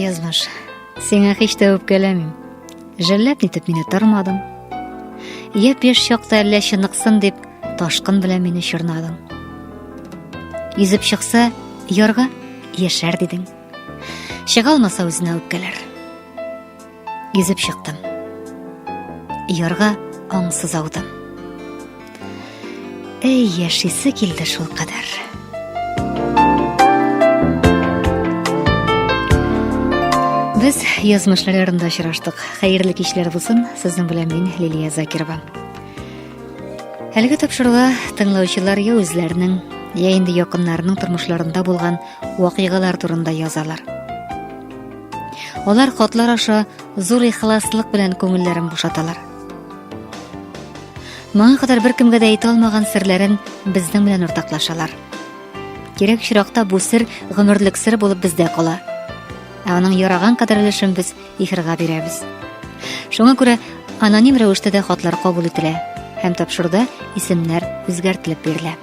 Язмыш, сиңа һич тә үпкәләмим. Жәлләп нитеп мине тормадың. Яп яшь чакта әллә чыныксын дип, ташкын белән мине чорнадың. Йөзеп чыкса, ярга яшәр дидең. Чыга алмаса үзенә үпкәләр. Йөзеп чыктым. Ярга аңсыз аудым. Әй, яшисе килде шул кадәр. Без язмышлар ярында очраштык. Хәерле кичләр булсын. Сезнең белән мин Лилия Закирова. Әлеге тапшыруга тыңлаучылар я үзләренең, я инде якыннарының тормышларында булган вакыйгалар турында язалар. Алар хатлар аша зур ихласлык белән күңелләрен бушаталар. Моңа кадәр бер кемгә дә әйтә алмаган серләрен безнең белән уртаклашалар. Кирәк чиракта бу сер гомерлек сер булып бездә кала. Ә аның яраган кадәр өлешен без ихрга бирәбез. Шуңа күрә Аноним рәвештә дә хатлар кабул ителә һәм тапшыруда исемнәр үзгәртелеп бирелә.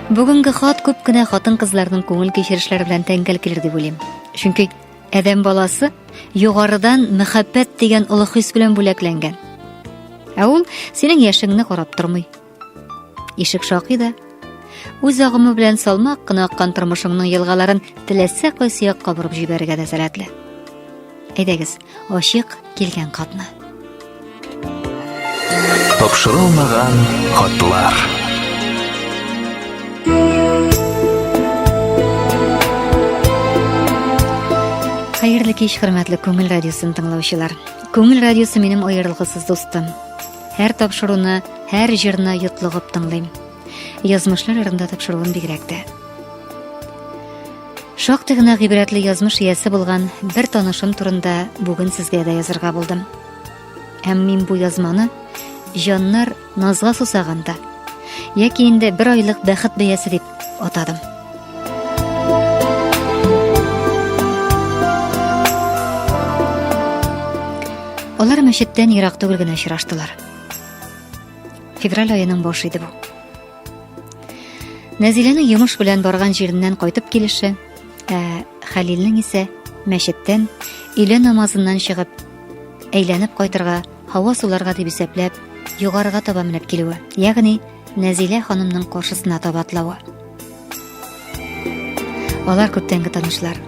Бүгенге хат күп кенә хатын-кызларның күңел кичерешләре белән тәңгәл килер дип уйлыйм. Чөнки адәм баласы югарыдан мәхәббәт дигән олы хис белән бүләкләнгән. Ә ул синең яшеңне карап тормый. Ишек шакый да үз агымы белән салмак кына аккан тормышыңның елгаларын теләсә кайсы якка борып җибәрергә дә сәләтле. Әйдәгез, ачык килгән катны. Тапшырылмаган хатлар. Хәерле кич, хөрмәтле Күңел радиосын тыңлаучылар. Күңел радиосы минем аерылгысыз дустым. Һәр тапшыруны, һәр җырны йотлыгып тыңлыйм. Язмышлар ярында тапшыруын бигрәк тә. Шактый гына гыйбрәтле язмыш иясе булган бер танышым турында бүген сезгә дә язырга булдым. Һәм мин бу язманы җаннар назга сусаганда яки инде бер айлык бәхет бәясе дип атадым. Алар мәчеттән ерак түгел генә очраштылар. Февраль аеның башы иде бу. Нәзиләнең йомыш белән барган җиреннән кайтып килеше, ә Хәлилнең исә мәчеттән өйлә намазыннан чыгып, әйләнеп кайтырга Һава суларга дип исәпләп, югарыга таба менеп килүе, ягъни Нәзилә ханымның каршысына таба атлавы. Алар күптәнге танышлар.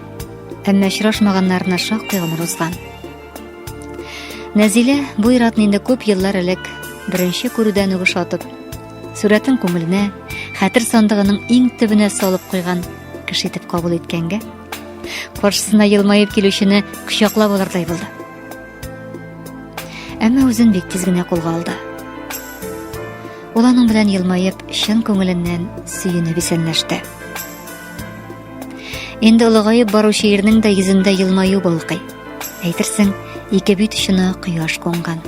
Әмма очрашмаганнарына шактый гомер узган. Нәзилә бу иратны инде күп еллар элек беренче күрүдән үк ошатып, сурәтен күңеленә, хәтер сандыгының иң төбенә салып куйган кеше итеп кабул иткәнгә, каршысына елмаеп килүчене кочаклап алырдай булды. Әмма үзен бик тиз генә кулга алды. Ул аның белән елмаеп, чын күңеленнән сөенеп исәнләште. Инде олыгаеп баручы ирнең дә йөзендә елмаю балкый. Әйтерсең, ике бит очына кояш кунган.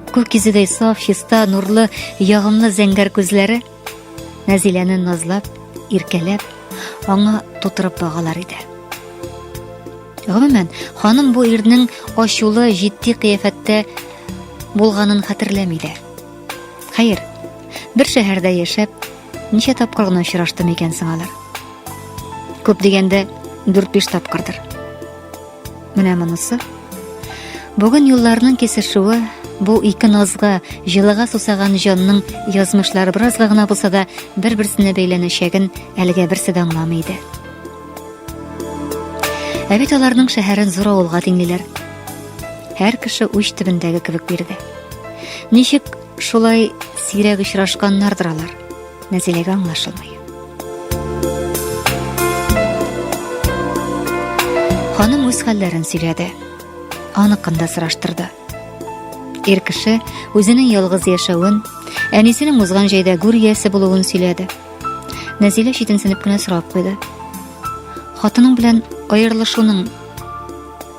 Күк йөзедәй саф, чиста, нурлы, ягымлы зәңгәр күзләре Нәзиләне назлап, иркәләп, аңа тутырып багалар иде. Гомумән, ханым бу ирнең ачулы, җитди кыяфәттә булганын хәтерләми дә. Хәер, бер шәһәрдә яшәп, ничә тапкыр гына очраштым икән соң алар? Күп дигәндә, 4-5 тапкырдыр. Менә монысы. Бүген юлларның кесешүе бу ике назга, җылыга сусаган җанның язмышлары беразга гына булса да бер-берсенә бәйләнәчәген әлегә берсе дә аңламый иде. Ә бит аларның шәһәрен зур авылга тиңлиләр. Һәр кеше уч төбендәге кебек бирде. Ничек шулай сирәк очрашканнардыр алар? Нәзиләгә аңлашылмый. Ханым үз хәлләрен сөйләде. Аныкын да сораштырды. Ир кеше үзенең ялгыз яшәвен, әнисенең узган җәйдә гүр иясе булуын сөйләде. Нәзилә читенсенеп кенә сорап куйды. Хатының белән аерылышуның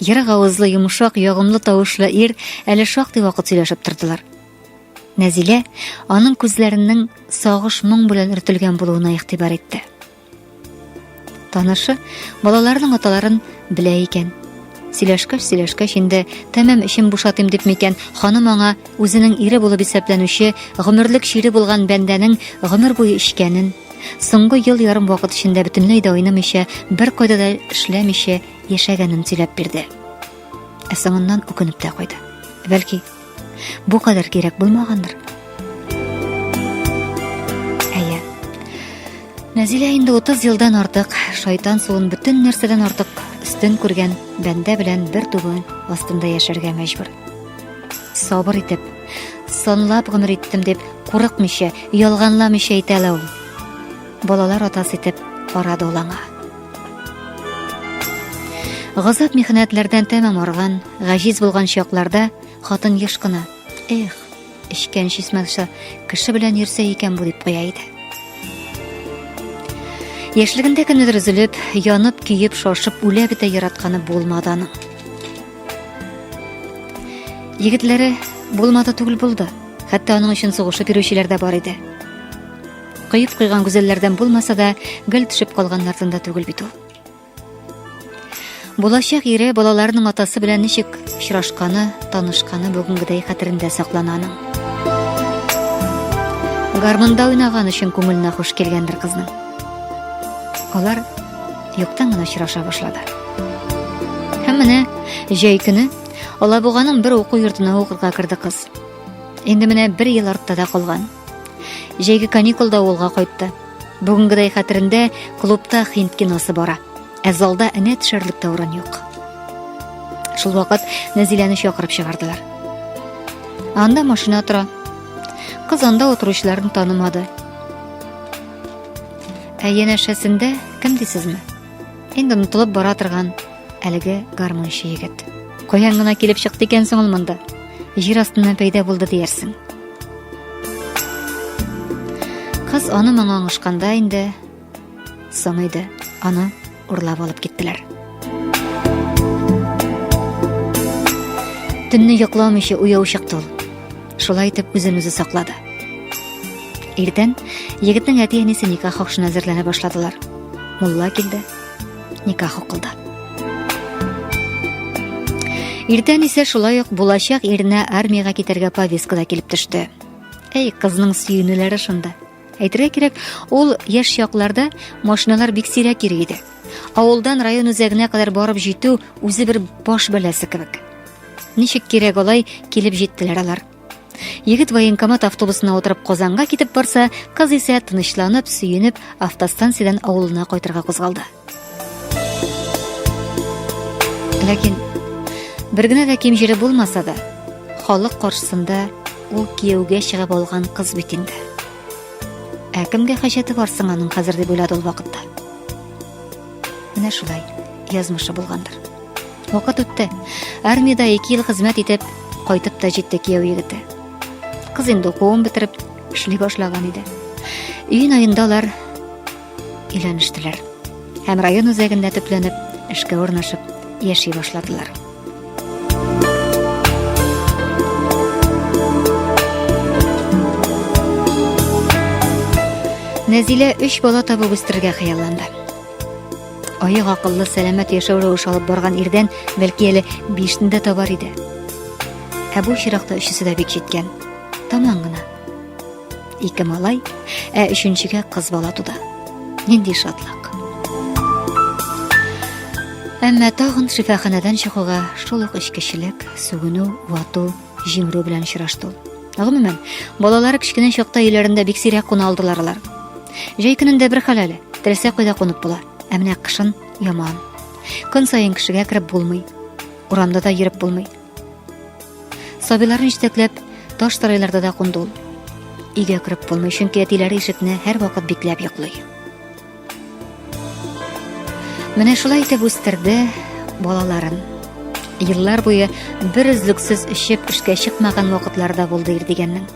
Ерак авызлы, йомшак, ягымлы тавышлы ир әле шактый вакыт сөйләшеп тордылар. Нәзилә аның күзләренең сагыш моң белән өртелгән булуына игътибар итте. Танышы балаларының аталарын белә икән. Сөйләшкәч, сөйләшкәч инде тәмам эчем бушатым дип микән, ханым аңа үзенең ире булып исәпләнүче, гомерлек чире булган бәндәнең гомер буе эчкәнен, соңгы ел ярым вакыт эчендә бөтенләй дә уйнамыйча, бер кайда да эшләмичә, яшәгәнен сөйләп бирде. Ә соңыннан үкенеп тә куйды. Бәлки, бу кадәр кирәк булмагандыр. Әйе. Нәзилә инде 30 елдан артык шайтан суын бөтен нәрсәдән артык өстен күргән бәндә белән бер түбән астында яшәргә мәҗбүр. Сабыр итеп, санлап гомер иттем дип, курыкмыйча, ялганламыйча әйтә ул. Балалар атасы итеп карады ул аңа. Газап михнәтләрдән тәмам арган, гаҗиз булган чакларда хатын еш кына, "Эх, эчкән чисмәгчә кеше белән йөрсә икән бу" дип куя иде. Яшьлегендә кемнедер өзелеп, янып, көеп, шашып, үлә бетә яратканы булмады аның. Егетләре булмады түгел булды. Хәтта аның өчен сугышып йөрүчеләр дә бар иде. Кыеп куйган гүзәлләрдән булмаса да, гел төшеп калганнардан да түгел бит ул. Булачак ире балаларының атасы белән ничек очрашканы, танышканы бүгенгедәй хәтерендә саклана аның. Гармунда уйнаган өчен күңеленә хуш килгәндер кызның. Алар юктан гына очраша башлады. Һәм менә җәй көне Алабуганың бер уку йортына укырга керде кыз. Инде менә бер ел артта да калган. Җәйге каникулда авылга кайтты. Бүгенгедәй хәтерендә клубта хинд киносы бара. Ә залда энә төшәрлек тә урын юк. Шул вакыт Нәзиләне чакырып чыгардылар. Анда машина тора. Кыз анда утыручыларын танымады. Ә янәшәсендә кем дисезме? Инде онытылып бара торган Әлеге гармунчы егет. Каян гына килеп чыкты икән соң ул монда? Җир астыннан пәйда булды диярсең. Кыз аны моңа аңышканда инде соң иде. Аны урлап алып киттеләр. Төнне йокламыйча уяу чыкты ул. Шулай итеп үзен үзе саклады. Иртән егетнең әти-әнисе никах хакшына әзерләнә башладылар. Мулла килде. никах укылды. Иртән исә шулай ук булачак иренә армиягә китәргә повестка да килеп төште. Әй, кызның сөенүләре шунда. Әйтергә кирәк, ул яшь чакларда машиналар бик сирәк йөри иде. Авылдан район үзәгенә кадәр барып җитү үзе бер баш бәләсе кебек. Ничек кирәк алай килеп җиттеләр алар. Егет военкомат автобусына утырып Казанга китеп барса, кыз исә тынычланып, сөенеп, автостанциядән авылына кайтырга кузгалды. Ләкин бер генә дә ким җире булмаса да, халык каршысында ул кияүгә чыгып алган кыз бит инде. Ә кемгә хаҗәте бар соң аның хәзер дип уйлады ул вакытта. Менә шулай язмышы булгандыр. Вакыт үтте. Армиядә 2 ел хезмәт итеп, кайтып та җитте кияү егете. Кыз инде укуын бетереп, эшли башлаган иде. Июнь аенда алар өйләнештеләр. Һәм район үзәгендә төпләнеп, эшкә урнашып, яши башладылар. Нәзилә өч бала табып үстерергә хыялланды. Аяк акыллы, сәламәт яшәү рәвеше алып барган ирдән бәлки әле бишне дә табар иде. Ә бу чиракта өчесе дә бик җиткән. Таман гына. Ике малай, ә өченчегә кыз бала туды. Нинди шатлык. Әмма тагын шифаханәдән чыгуга шул ук эчкечелек, сүгенү, вату, җимерү белән очрашту. Гомумән, балалар кечкенә чакта өйләрендә бик сирәк куна алдылар алар. Җәй көнендә бер хәл әле, теләсә кайда кунып була, ә менә кышын яман. Көн саен кешегә кереп булмый. Урамда да йөреп булмый. Сабиларны җитәкләп, таш тарайларда да кунды ул. Өйгә кереп булмый, чөнки әтиләре ишекне һәрвакыт бикләп йоклый. Менә шулай итеп үстерде балаларын. Еллар буе бер өзлексез эчеп эшкә чыкмаган вакытларда булды Ирдигәннең.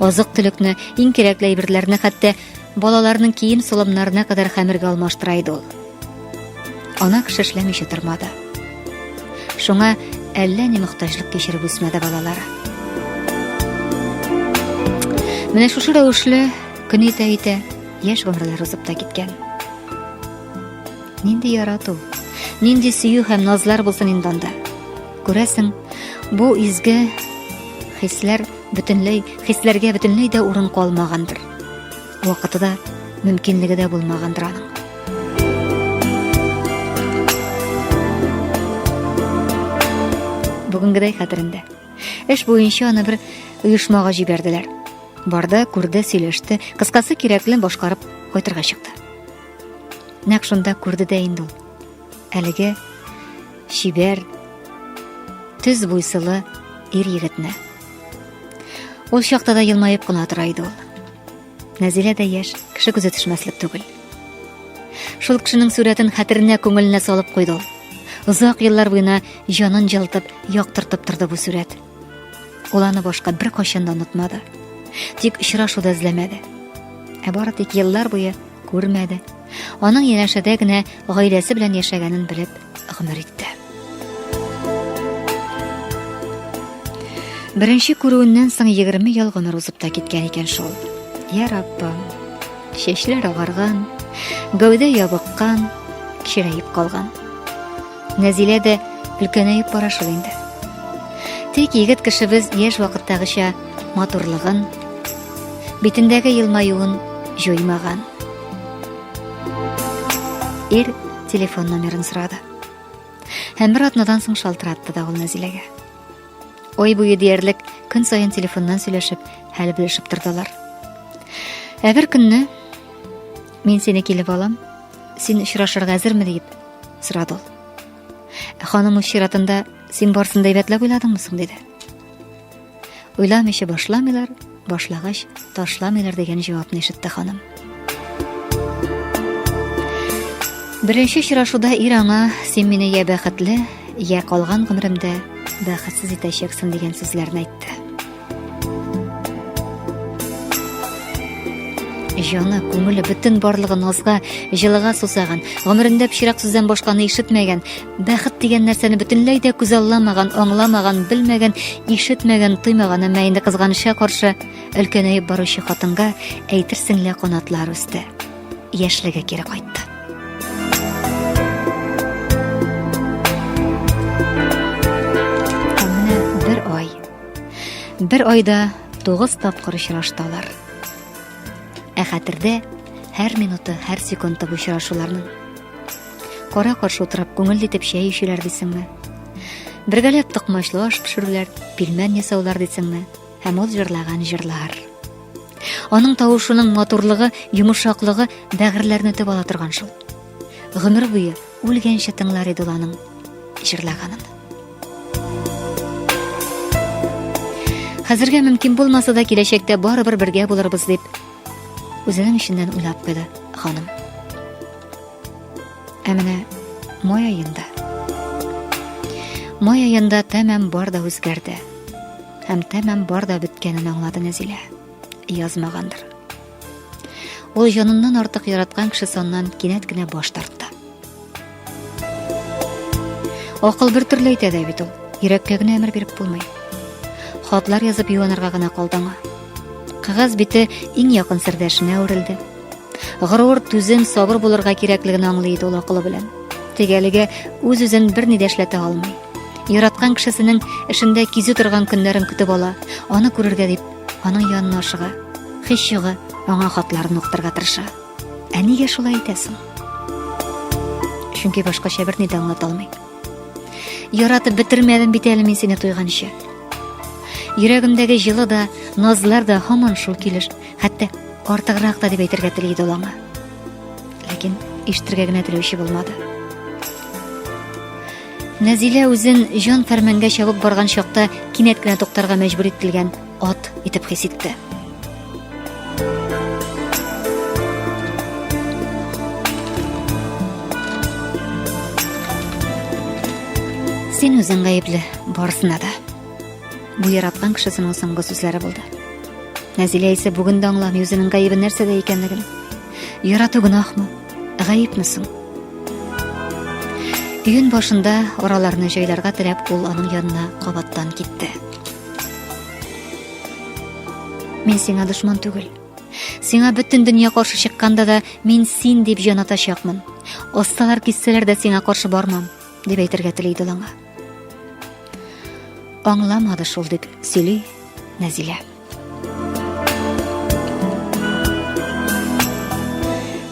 Азык-төлекне, иң кирәкле әйберләрне хәтта Балаларның кием солымнарына кадәр хәмергә алмаштыра иде ул. Ана кеше эшләмичә тормады. Шуңа әллә ни мөхтаҗлык кичереп үсмәде балалары. Менә шушы рәвешле көн итә итә яшь гомерләр узып та киткән. Нинди ярату, нинди сөю һәм назлар булсын инде анда. Күрәсең, бу изге хисләр бөтенләй хисләргә бөтенләй дә урын калмагандыр вакыты да мөмкинлеге дә булмагандыр аның бүгенгедәй хәтерендә эш буенча аны бер оешмага җибәрделәр барды күрде сөйләште кыскасы кирәкле башкарып кайтырга чыкты нәкъ шунда күрде дә инде ул әлеге чибәр төз буйсылы ир егетне. Ул чакта да елмаеп кына тора иде ул. Нәзилә дә яшь, кеше күзе төшмәслек түгел. Шул кешенең сурәтен хәтеренә күңеленә салып куйды ул. Озак еллар буена җанын җылтып, яктыртып торды бу сурәт. Ул аны башка беркайчан да онытмады. Тик очрашуда эзләмәде. Ә бары тик еллар буе күрмәде. Аның янәшәдә генә гаиләсе белән яшәгәнен белеп гомер итте. Беренче күрүеннән соң 20 ел гомер узып та киткән икән шул. Я Раббым, чәчләр агарган, гәүдә ябыккан, кирәеп калган. Нәзилә дә өлкәнәеп бара шул инде. Тик егет кешебез яшь вакыттагыча матурлыгын, битендәге елмаюын җуймаган. Ир телефон номерын сорады. Һәм бер атнадан соң шалтыратты да ул Нәзиләгә. Ой буе диярлек көн саен телефоннан сөйләшеп, хәл белешеп тордылар. Ә бер көнне мин сине килеп алам, Син очрашырга әзерме дип сорады ул. Ә ханым үз чиратында син барсын да әйбәтләп уйладыңмы соң диде. Уйламыйча башламыйлар, башлагач ташламыйлар дигән җавапны ишетте ханым. Беренче очрашуда ир аңа син мине я бәхетле, я калган гомеремдә бәхетсез итәчәксең дигән сүзләрне әйтте. Җаны, күңеле бөтен барлыгы назга, җылыга сусаган, гомерендә пычрак сүздән башканы ишетмәгән, бәхет дигән нәрсәне бөтенләй дә күзалламаган, аңламаган, белмәгән, ишетмәгән, тоймаган, әмма инде кызганычка каршы өлкәнәеп баручы хатынга әйтерсең лә канатлар үсте. Яшьлеге кире кайтты. Бер айда тугыз тапкыр очрашталар. Ә хәтердә һәр минуты, һәр секунды бу очрашуларның. Кара каршы утырып, күңел дитеп чәй ишеләр дисеңме? Бергәләп токмачлы аш пешерүләр, пилмән ясаулар дисеңме? Һәм ул җырлаган җырлар. Аның тавышының матурлыгы, йомшаклыгы бәгырьләрне төп ала торган шул. Гомер буе Үлгәнче тыңлар иде ул аның җырлаганын. Хәзергә мөмкин булмаса да киләчәктә барыбер бергә булырбыз дип үзенең эченнән уйлап куйды ханым. Ә менә май аенда май аенда тәмам бар да үзгәрде һәм тәмам бар да беткәнен аңлады Нәзилә. Язмагандыр. Ул җаныннан артык яраткан кеше соннан кинәт кенә баш тартты. Акыл бер төрле әйтә дә бит ул. Йөрәккә генә әмер биреп булмый. Хатлар язып юанырга гына калды аңа. Кагаз бите иң якын сердәшенә үрелде. Горур, түзем, сабыр булырга кирәклеген аңлый иде ул акылы белән. Тегәлегә үз-үзен берни дә эшләтә алмый. Яраткан кешесенең эшендә кизү торган көннәрен көтеп ала, аны күрергә дип Аның янына ашыга, хис югы аңа хатларын укытырга тырыша. Ә нигә шулай итәсең? Чөнки башкача берни дә аңлата алмый. Яратып бетермәдем бит әле мин сине туйганчы. Йөрәгемдәге җылы да, назлар да һаман шул килеш, хәтта артыграк та дип әйтергә тели иде аңа. Ләкин ишетергә генә теләүче булмады. Нәзилә үзен җан фәрмәнгә чабып барган чакта кинәт кенә туктарга мәҗбүр ителгән ат итеп хис итте. Син үзең гаепле барысына да. Бу яраткан кешесенең соңгы сүзләре булды. Нәзилә исә бүген дә аңламый үзенең гаебе нәрсәдә икәнлеген. Ярату гөнаһмы? Гаепме соң? Июнь башында араларны җайларга теләп ул аның янына кабаттан китте. Мин сиңа дошман түгел. Сиңа бөтен дөнья каршы чыкканда да мин син дип җан атачакмын. Осталар киссәләр дә сиңа каршы бармам, дип әйтергә тели иде аңа. Аңламады шул дип сөйли Нәзилә.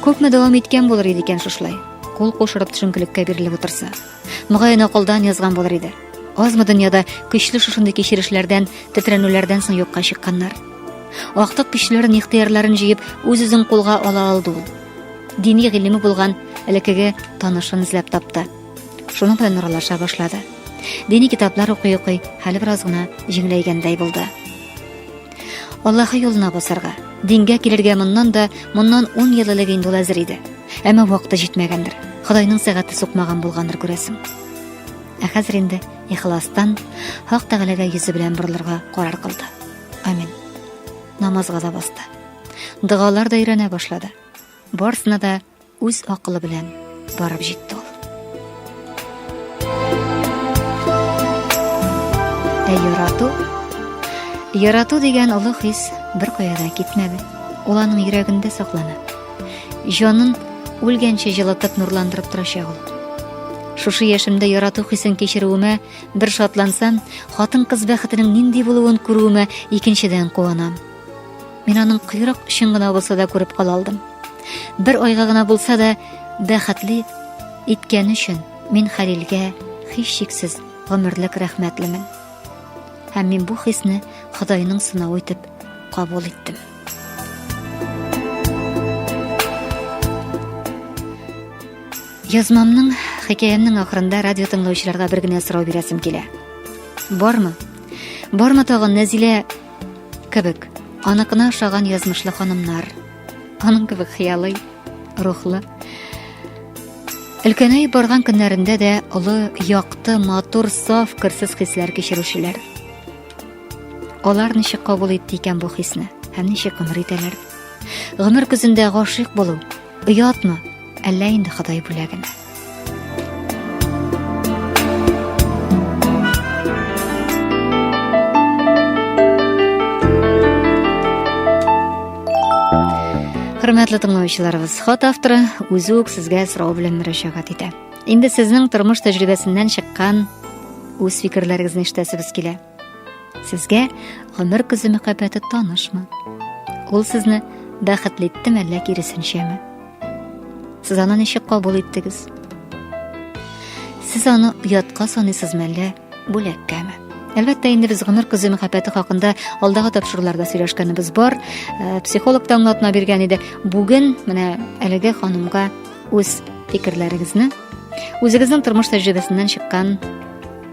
Күпме дәвам иткән булыр иде икән шушылай? Кул кушырып төшенкелеккә бирелеп утырса. Мөгаен акылдан язган булыр иде. Азмы дөньяда көчле шушындый кичерешләрдән, тетрәнүләрдән соң юкка чыкканнар. Актык көчләрен, ихтыярларын җыеп, үз-үзен кулга ала алды ул. Дини гыйлеме булган элекеге танышын эзләп тапты. Шуның белән нуралаша башлады. Дини китаплар укый-укый, хәле бераз гына җиңеләйгәндәй булды. Аллаһы юлына басарга, дингә килергә моннан да, моннан 10 ел элек инде ул әзер иде. Әмма вакыты җитмәгәндер. Худайның сәгате сукмаган булгандыр күрәсең. Ә хәзер инде ихластан Хак Тәгаләгә йөзе белән борылырга карар кылды. Амин. Намазга да басты. Дәгалар да өйрәнә башлады. Барсына да Үз акылы белән барып җитте ул. Ә ярату, ярату дигән олы хис бер кая да китмәде. Ул аның йөрәгендә саклана. Җанын үлгәнче җылытып нурландырып торачак ул. Шушы яшемдә ярату хисен кичерүемә бер шатлансам, хатын-кыз бәхетенең нинди булуын күрүемә икенчедән куанам. Мин аның койрык өчен генә булса да күреп кала алдым. Бер айга гына булса да бәхетле иткән өчен мин Хәлилгә һич шиксез гомерлек рәхмәтлемен. Һәм мин бу хисне Ходайның сынавы итеп кабул иттем. Язмамның, хикәямнең ахырында радио тыңлаучыларга бер генә сорау бирәсем килә. Бармы? Бармы тагын Нәзилә кебек аныкына ошаган язмышлы ханымнар аның кебек хыялый рухлы өлкәнәй барган көннәрендә дә олы якты матур саф кырсыз хисләр кичерүчеләр алар ничек кабул итте икән бу хисне һәм ничек гомер итәләр гомер көзендә гашыйк булу оятмы әллә инде ходай бүләгеме Хөрмәтле тыңлаучыларыбыз, хат авторы үзе үк сезгә сорау белән мөрәҗәгать итә. Инде сезнең тормыш тәҗрибәсеннән чыккан үз фикерләрегезне ишетәсебез килә. Сезгә гомер көзе мәхәббәте танышмы? Ул сезне бәхетле иттеме әллә киресенчәме? Сез аны ничек кабул иттегез? Сез аны оятка саныйсызмы әллә бүләккәме? Әлбәттә, инде без гомер көзе мәхәббәте хакында алдагы тапшыруларда сөйләшкәнебез бар. Э, психолог та аңлатма биргән иде. Бүген менә әлеге ханымга үз фикерләрегезне, үзегезнең тормыш тәҗрибәсеннән чыккан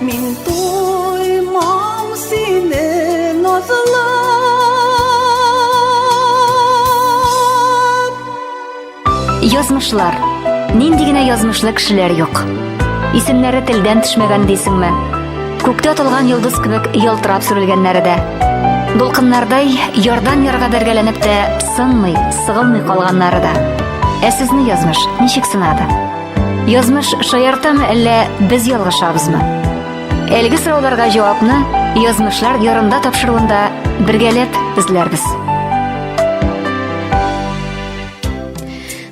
Мин туймам сине назлап. Язмышлар. Нинди генә язмышлы кешеләр юк. Исемнәре телдән төшмәгән дисеңме? Күктә атылган йолдыз кебек ялтырап сүрелгәннәре дә. Дулкыннардай ярдан ярга бәргәләнеп тә сынмый, сыгылмый калганнары да. Ә сезне язмыш ничек сынады? Язмыш шаяртамы әллә без ялгышабызмы? Әлеге сорауларга җавапны Язмышлар ярында тапшыруында бергәләп эзләрбез.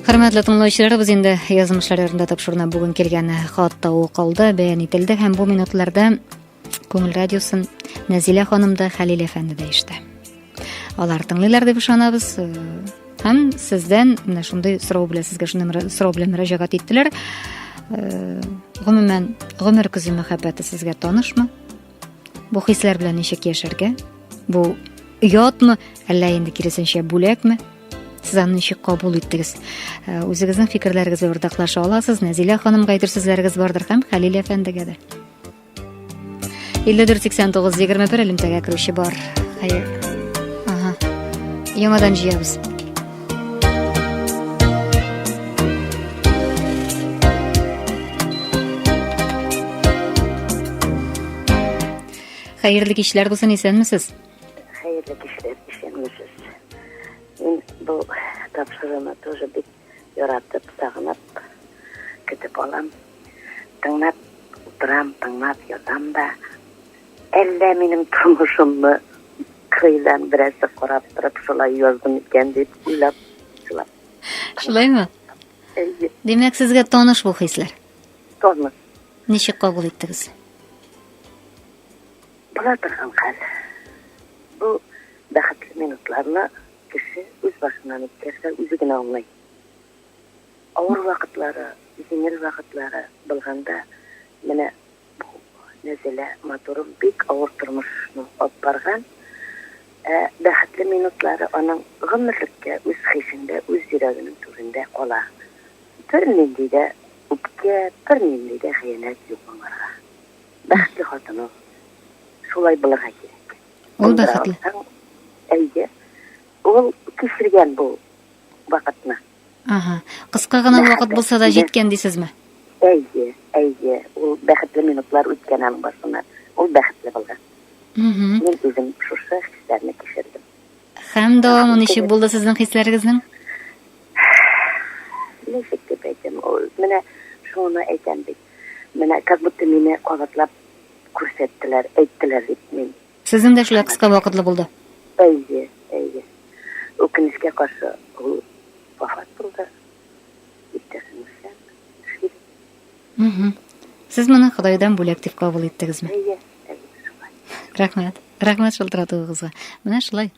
Хөрмәтле тыңлаучыларыбыз инде язмышлар ярында тапшыруына бүген килгән хат та укылды, бәян ителде һәм бу минутларда Күңел радиосын Нәзилә ханым да, Хәлил әфәнде дә ишетә. Алар тыңлыйлар дип ышанабыз. Һәм сездән менә шундый сорау белән сезгә шундый сорау белән мөрәҗәгать иттеләр. Э, гомумән, гомер көзе мәхәббәте сезгә танышмы? Бу хисләр белән ничек яшәргә? Бу оятмы, әллә инде киресенчә бүләкме? сез аны ничек кабул иттегез э, үзегезнең фикерләрегезне уртаклаша аласыз нәзилә ханымга әйтер сүзләрегез бардыр һәм хәлил әфәндегә дә 54-89-21 элемтәгә керүче бар. Хәер. Ага. Яңадан җыябыз. Хәерле кичләр булсын, исәнмесез? Хәерле кичләр, исәнмесез. Мин бу тапшыруны тоже бик яратып, сагынып көтеп алам. Тыңнап утырам, тыңнап ятам да. Әллә минем тормышымны кыйдан берәрсе карап торып шулай яздым икән дип уйлап, шулай. Шулаймы? Әйе. Димәк, сезгә таныш бу хисләр? Таныш. Ничек кабул иттегез? Була торган хәл. Бу бәхетле минутларны Кеше үз башыннан үткәрсә, үзе генә аңлый. Авыр вакытлары, җиңел вакытлары булганда, менә бу Нәзилә матурым бик авыр тормышны алып барган, ә бәхетле минутлары аның гомерлеккә үз хисендә, үз йөрәгенең түрендә кала. Бернинди дә үпкә, бернинди дә хыянәт юк аңарга. Бәхетле хатын ул. Шулай булырга кирәк. Ул бәхетле. Әйе. Ул кичергән бу вакытны. Ага. Кыска гына вакыт булса да җиткән дисезме? Әйе, әйе. Ул бәхетле минутлар үткән аның башына. Ул бәхетле булган. Мин үзем шушы хисләрне кичердем. Һәм дәвамы ничек булды сезнең хисләрегезнең? Ничек дип әйтәм, ул менә шуны әйтәм бит. Менә как будто мине кабатлап Күрсәттеләр, әйттеләр бит мин. Сезнең дә шулай кыска вакытлы булды? Әйе, әйе. Үкенечкә каршы, ул вафат булды. Иптәшем Үсән, Шир. Сез моны Ходайдан бүләк дип кабул иттегезме? Әйе, әйе, шулай. Рәхмәт. Рәхмәт шалтыратуыгызга. Менә шулай.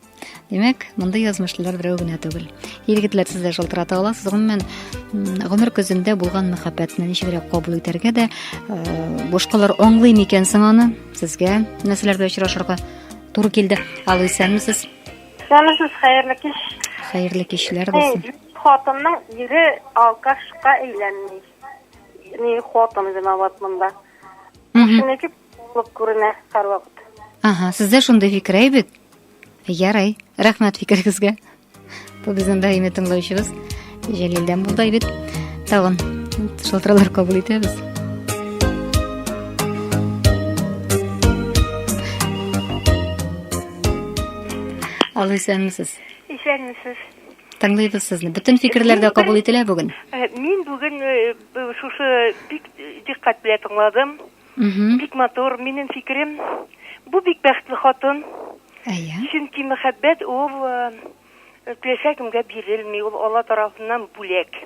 Димәк, мондый язмышлылар берәү генә түгел. Егетләр сез дә шалтырата аласыз. Гомумән, гомер көзендә булган мәхәббәтне ничегрәк кабул итәргә дә э, башкалар аңлый микән соң аны? Сезгә нәрсәләрдә очрашырга туры килде? Алу исәнмесез? Исәнмесез, хәерле кич. Хәерле кичләр булсын. Хатынның ире алкашка әйләнми. Ни хатын виноват монда. Шуныкып Булып күренә һәрвакыт. Ага, сездә шундый фикер әйбәт. Ярый, рәхмәт фикерегезгә. Бу безнең даими тыңлаучыбыз Җәлилдән булды әйбәт. Тагын шалтыраулар кабул итәбез. Алло, исәнмесез. Исәнмесез. Тыңлыйбыз сезне. Бөтен фикерләр дә кабул ителә бүген. Э, мин бүген э, шушы бик диккать белән тыңладым. Угу. Бик матур. Минем фикерем, бу бик бәхетле хатын. Әйе. Чөнки мәхәббәт ул э, теләсә кемгә бирелми, ул Алла тарафыннан бүләк.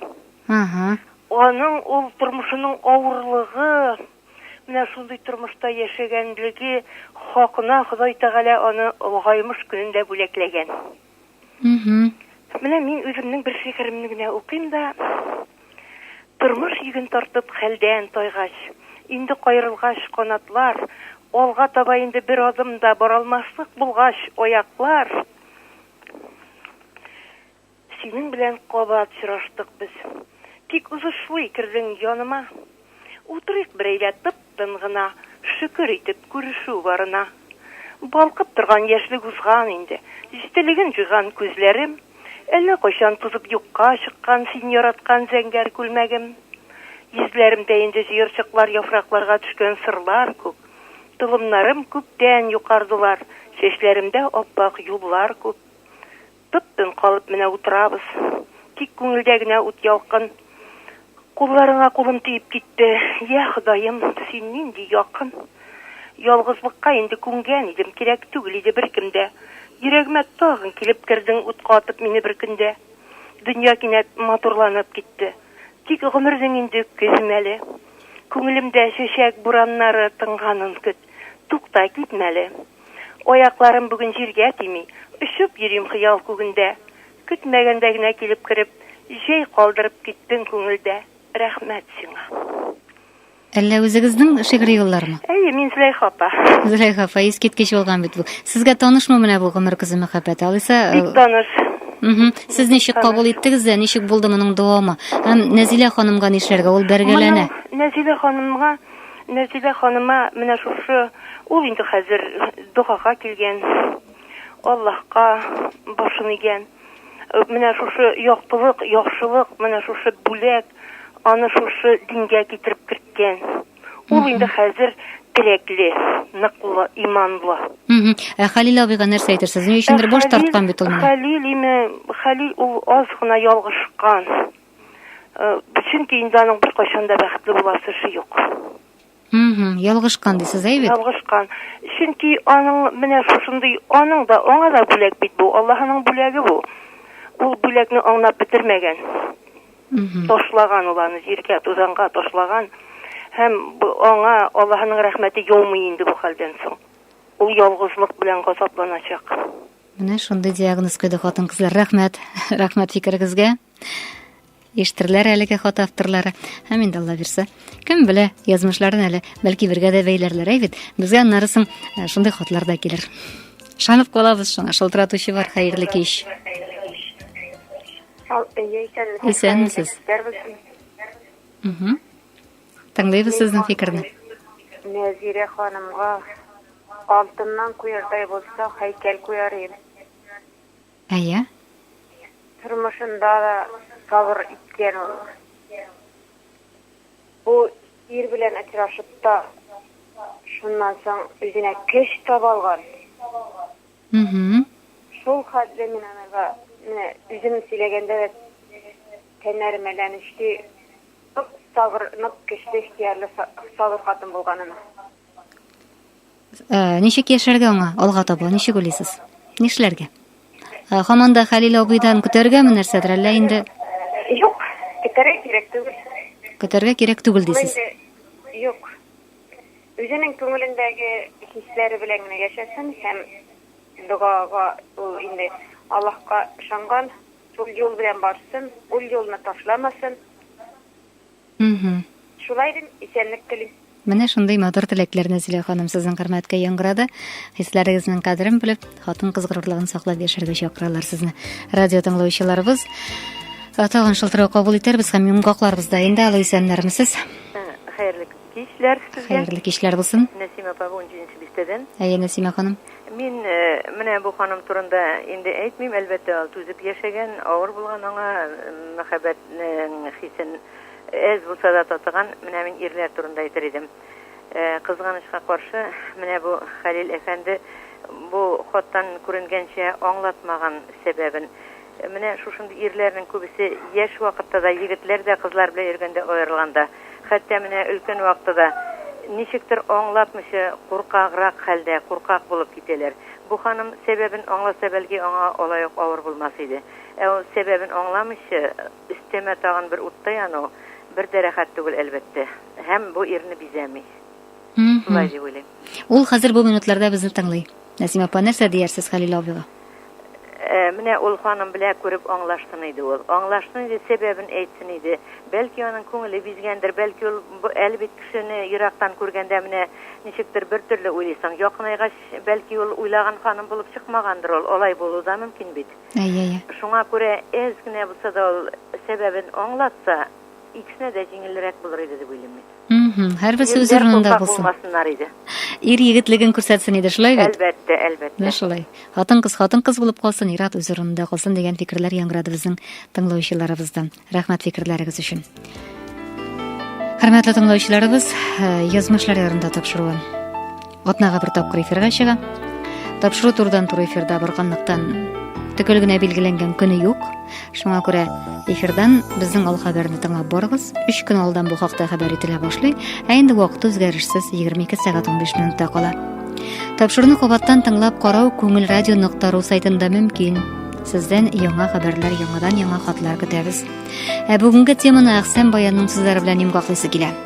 Ага. Аның ул тормышының авырлыгы, менә шундый тормышта яшәгәнлеге хакына Ходай Тәгалә аны олыгаймыш көнендә бүләкләгән. Менә мин үземнең бер шигыремне генә укыйм да, Тормыш йөген тартып хәлдән тайгач, инде каерылгач канатлар, алга таба инде бер адым да баралмаслык булгач аяклар, синең белән кабат очраштык без. Тик узышлый кердең яныма. Утырыйк берәйлә тып-тын гына, Шөкер итеп күрешү барына. Балкып торган яшьлек узган инде, Җителеген җуйган күзләрем, Әллә кайчан тузып юкка чыккан Син яраткан зәңгәр күлмәгем. Йөзләремдә инде җыерчыклар Яфракларга төшкән сырлар күк. Толымнарым күптән юкардылар, Чәчләремдә ап-ак юллар күп. Тып-тын калып менә утырабыз. Тик күңелдә генә ут ялкын. Кулларыңа кулым тиеп китте. Йә, Ходаем, син нинди якын. Ялгызлыкка инде күнгән идем, кирәк түгел иде беркем дә. Йөрәгемә тагын килеп кердең, утка атып мине бер көндә. Дөнья кинәт матурланып китте. Тик гомернең инде көзе мәле. Күңелемдә чәчәк бураннары тынганын көт. Тукта, китмә әле. Аякларым бүген җиргә тими, Очып йөрим хыял күгендә. Көтмәгәндә генә килеп кереп, Җәй калдырып киттең күңелдә. Рәхмәт сиңа. Әллә үзегезнең шигъри юллармы? Әйе, мин Зөләйха апа. Зөләйха апа, искиткеч булган бит бу. Сезгә танышмы менә бу Гомер көзе мәхәббәте? Алайса, Бик таныш. Мхм. Сез ничек кабул иттегез дә, ничек булды моның дәвамы? Һәм Нәзилә ханымга нишләргә? Ул бәргәләнә. Моның Нәзилә ханымга Мәртебә ханыма менә шушы, ул инде хәзер догага килгән, Аллаһка башын игән. Менә шушы яктылык, яхшылык, менә шушы бүләк аны шушы дингә китереп керткән. Ул инде хәзер терәкле, ныклы, иманлы. Ә Хәлил абыйга нәрсә әйтерсез? Ни өчендер баш тарткан бит ул менә. Хәлил име, Хәлил ул аз гына ялгышкан. Чөнки инде аның беркайчан да бәхетле буласы эше юк. Угу, ялгышкан дисез, әй бит? Ялгышкан. Чөнки аның менә шушындый аның да аңа да бүләк бит бу. Аллаһының бүләге бу. Ул бүләкне аңнап бетермәгән. Угу. Ташлаган ул аны җиргә, тузанга ташлаган. Һәм аңа Аллаһының рәхмәте яумый инде бу хәлдән соң. Ул ялгызлык белән газапланачак. Менә шундый диагноз куйды хатын-кызлар. Рәхмәт. Рәхмәт фикерегезгә. Иштерләр әлеге хат авторлары. Һәм инде Алла бирсә, кем белә, язмышларын әле бәлки бергә дә бәйләрләр әйбит. Безгә аннары соң э, шундый хатлар да килер. Шанып калабыз шуңа, шылтыратучы бар, хәерле кич. Исәнмесез. Тыңлыйбыз сезнең фикерне. Нәзирә ханымга алтыннан куярдай булса, һәйкәл куяр идем. Әйе. Тормышында да сабыр иткән ул. Бу ир белән очрашып та, шуннан соң үзенә көч таба алган. Угу. Шул хәтле мин анага менә үзем сөйләгәндә дә тәннәрем әйләнеште. Нык сабыр, нык көчле ихтиярле сабыр хатын булганын. Ә, ничек яшәргә аңа алга таба? Ничек уйлыйсыз? Нишләргә? Ә, хаман да Хәлил абыйдан көтәргәме нәрсәдер, әллә инде? Юк, көтәргә кирәк түгел. Көтәргә кирәк түгел дисез. Юк. Үзенең күңелендәге хисләре белән генә яшәсен һәм догага ул инде Аллаһка ышанган, шул юл белән барсын, ул юлны ташламасын. Угу. Шулай дим, исәнлек телим. Менә шундый матур теләкләр Нәзилә ханым сезнең хөрмәткә яңгырады. Хисләрегезнең кадерен белеп, хатын-кыз горурлыгын саклап яшәргә чакыралар сезне. Радио тыңлаучыларыбыз э, тагын шылтырау кабул итәрбез һәм йомгакларбыз да инде. Алло, исәннәрмесез? Э, хәерле кичләр сезгә. Хәерле кичләр булсын. Нәсимә апа 17 нче бистәдән. Әйе, Нәсимә ханым. Мин менә бу ханым турында инде әйтмим, әлбәттә, ул түзеп яшәгән, авыр булган аңа мәхәббәтнең хисен әз булса да татыган. Менә мин ирләр турында әйтер идем. Кызганычка каршы, менә бу Хәлил әфәнде бу хаттан күренгәнчә аңлатмаган сәбәбен. Менә шушындый ирләрнең күбесе яшь вакытта да, егетләр дә кызлар белән йөргәндә аерылган да, хәтта менә өлкән вакыты да ничектер аңлатмыйча куркаграк хәлдә, куркак булып китәләр. Бу ханым сәбәбен аңласа, бәлки, аңа алай ук авыр булмас иде. Ә ул сәбәбен аңламыйча, өстәмә тагын бер утта яну, бер дә рәхәт түгел, әлбәттә. Һәм бу ирне бизәми. Шулай дип уйлыйм. Ул хәзер бу минутларда безне тыңлый. Нәсим апа, нәрсә диярсез Хәлил абыйга? Э, менә ул ханым белә күреп аңлашсын иде ул. Аңлашсын иде, сәбәбен әйтсен иде. Бәлки аның күңеле бизгәндер, бәлки ул әле бит кешене ерактан күргәндә менә ничектер бер төрле уйлыйсың. Якынайгач, бәлки ул уйлаган ханым булып чыкмагандыр ул. Алай булу да мөмкин бит. Әйе, әйе. Шуңа күрә әз генә булса да ул сәбәбен аңлатса, икесенә дә җиңелрәк булыр иде дип уйлыйм мин. Угу, һәрберсе үз урынында булсын. Булмасыннар иде. Ир егетлеген күрсәтсен иде, шулай бит? Әлбәттә, әлбәттә. Менә шулай. Хатын-кыз хатын-кыз булып калсын, ир-ат үз урынында калсын дигән фикерләр яңгырады безнең тыңлаучыларыбыздан. Рәхмәт фикерләрегез өчен. Хөрмәтле тыңлаучыларыбыз, э, язмышлар ярында тапшыруы. Атнага бер тапкыр эфирга чыга. Тапшыру турдан туры эфирда барганлыктан төгәл генә билгеләнгән көне юк. Шуңа күрә эфирдан безнең ал хәбәрне тыңлап барыгыз. 3 көн алдан бу хакта хәбәр ителә башлый, ә инде вакыт үзгәрешсез 22 сәгать 15 минутта кала. Тапшыруны кабаттан тыңлап карау Күңел радио.ру сайтында мөмкин. Сездән яңа хәбәрләр, яңадан яңа хатлар көтәбез. Ә бүгенге теманы Әхсән баянның сүзләре белән йомгаклыйсы килә.